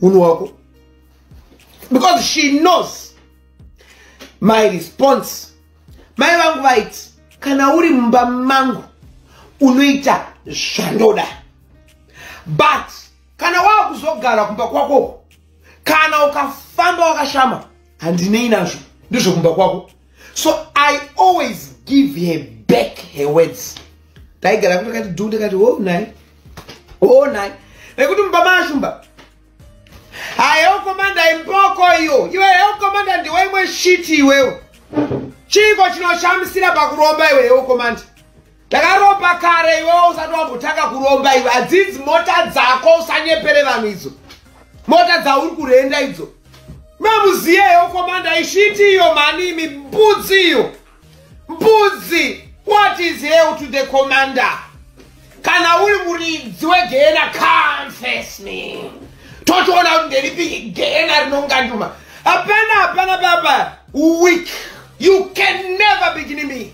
munhu wako because she knows my response mai vangu vaiti kana uri mumba mangu unoita zvandoda but kana wava kuzogara kumba kwako kana ukafamba wakashama handinei nazvo ndizvo kumba kwako so i always give her back her words ndaigara kuti kati dhu ndikati ho oh, nai ho oh, nai nekuti mumba maashumba hayokomanda imboko iyo iwe yokomanda ndiwe imwe shiti iwewo chiiko chinoshamisira pakuromba iwe yokomanda ndakaromba kare iwewo usati wambotanga kuromba iwe hadzidzi mota dzako usanyepere vanhu idzo mota dzauri kurenda idzo mamuziyeyo komanda ishiti iyo mani imi mbudzi iyo mbudzi what is hell to the commander kana uri muridzi wegehena confess me totoona kuti nderipi gehena rinonganduma hapana hapana baba weak you can never begin me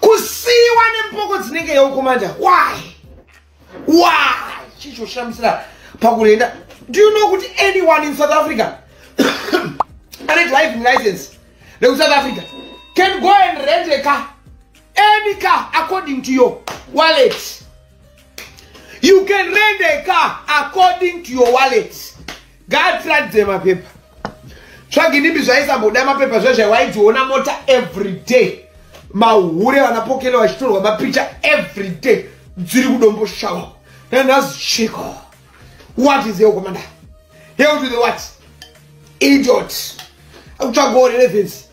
kusiiwa nemboko dzinenge yaukomanda why why chichoshamisira pakurenda do you know kuti anyone in south africa ane driving license rekusouth africa can go and rent a car any car according to your wallet you can rent a car according to your wallet ngaatiratidze mapepa tsvaginimbi zvaisamboda mapepa zvezvai waidziona mota everyday mahure vanapokele vachitorwa mapicha everyday dziri kudombo shawa nanhazi chiko what is your commander hell to the what idiot akutsvaga orelevance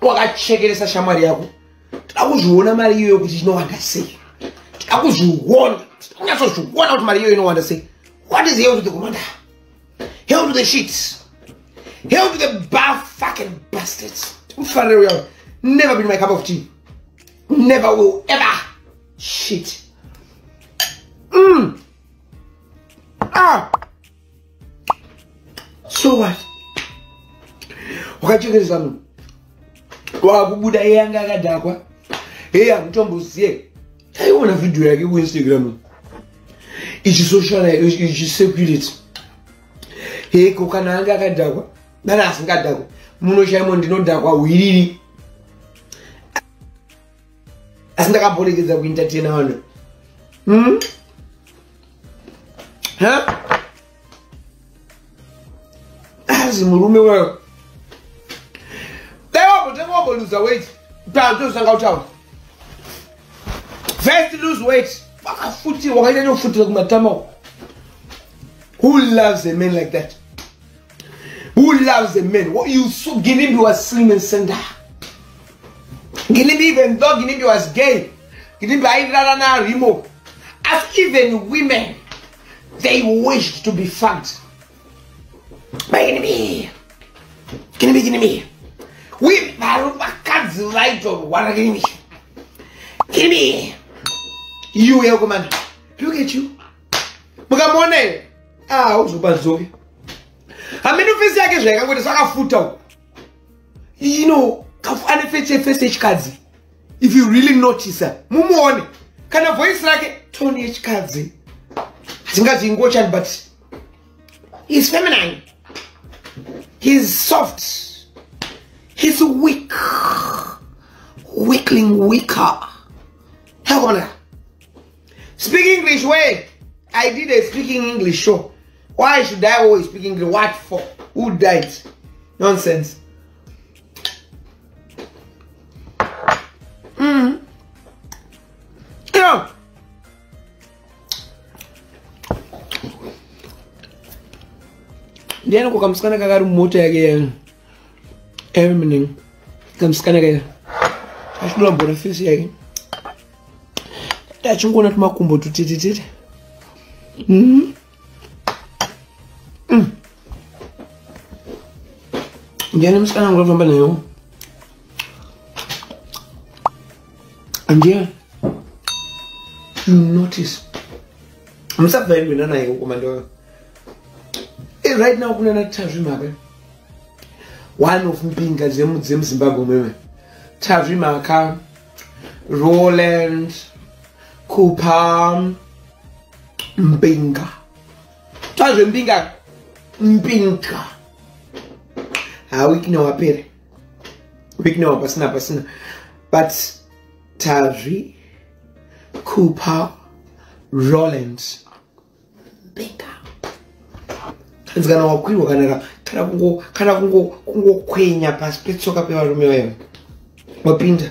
wakachekeresa shamwari yako tida kuzviona mari iyoyo kuti inowanda sei tida kuzviona tida kunyatsozviona kuti mari iyoyo inowanda sei what is hell to the commander hell to the sheets hell to the bar fucking bastards ufanire uya never been my cup of tea never will ever shit mm. ah so what wakachekeresa munhu wakubuda iye anga akadhakwa hei hamutomboziye taiona vhidhiyo yake kuinstagram ichisocialichisekurity heko kana anga akadhakwa kana asingadhakwa muno chaimo ndinodhakwa hwiriri asi ndakaporekedza kuentertaina vanhu hmm? azi murume wayo dai wabotanga waboluza weti paatozanga kutaura first lose weight wakafutirwa wakaita nokufutira kumatama who loves a man like that Who loves a man? What you so Ginimbi was slim and slender. Ginimbi even though Ginimbi was gay, Ginimbi airara na Rimo. As even women, they wished to be fucked by Ginimbi. Ginimbi, Ginimbi. We vakadzi vaitorwara Ginimbi. Ginimbi. You, Elgoman. Look at you. mukamuona here ah uzoba zoe hameno fesi yake zvayakangoita sakafuta uko you know ane fesi fesi yechikadzi if you really notice mumuone kana voice rake tone yechikadzi dzingazi ingochani but he's feminine he's soft he's weak weakling weaker hakomana Speak English way. I did a speaking English show. Why should I always speak English? What for? Who died? Nonsense. Mm. Yeah. ndiani ko kamusikana kakari mumota yake yanu evening kamusikana kaya achidambura fisi yake ndachingoona tumakumbo tutitititi mm-hmm. mm. ndiani musikana wangu afamba nayo andiani notice musabva yekuenda naye kukomandoyo eh, right now kunana tazvi mabe one of mbinga dzemuzimbabwe meme tazvi maka roland kupa mbinga tazve mbinga mbinga ha wiki newapere wiki newa pasina pasina but tazvi kupa roland hanzi kana wakwirwa kana kana kungo kana kungo kungokwenya pasi petsoka pevarume vayo wapinda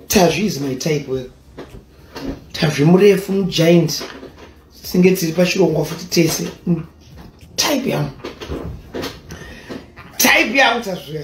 tazvi is my type weyo tazvi murefu mugiant tinenge tiri pachirongwa futi tese type yangu type yangu tazviya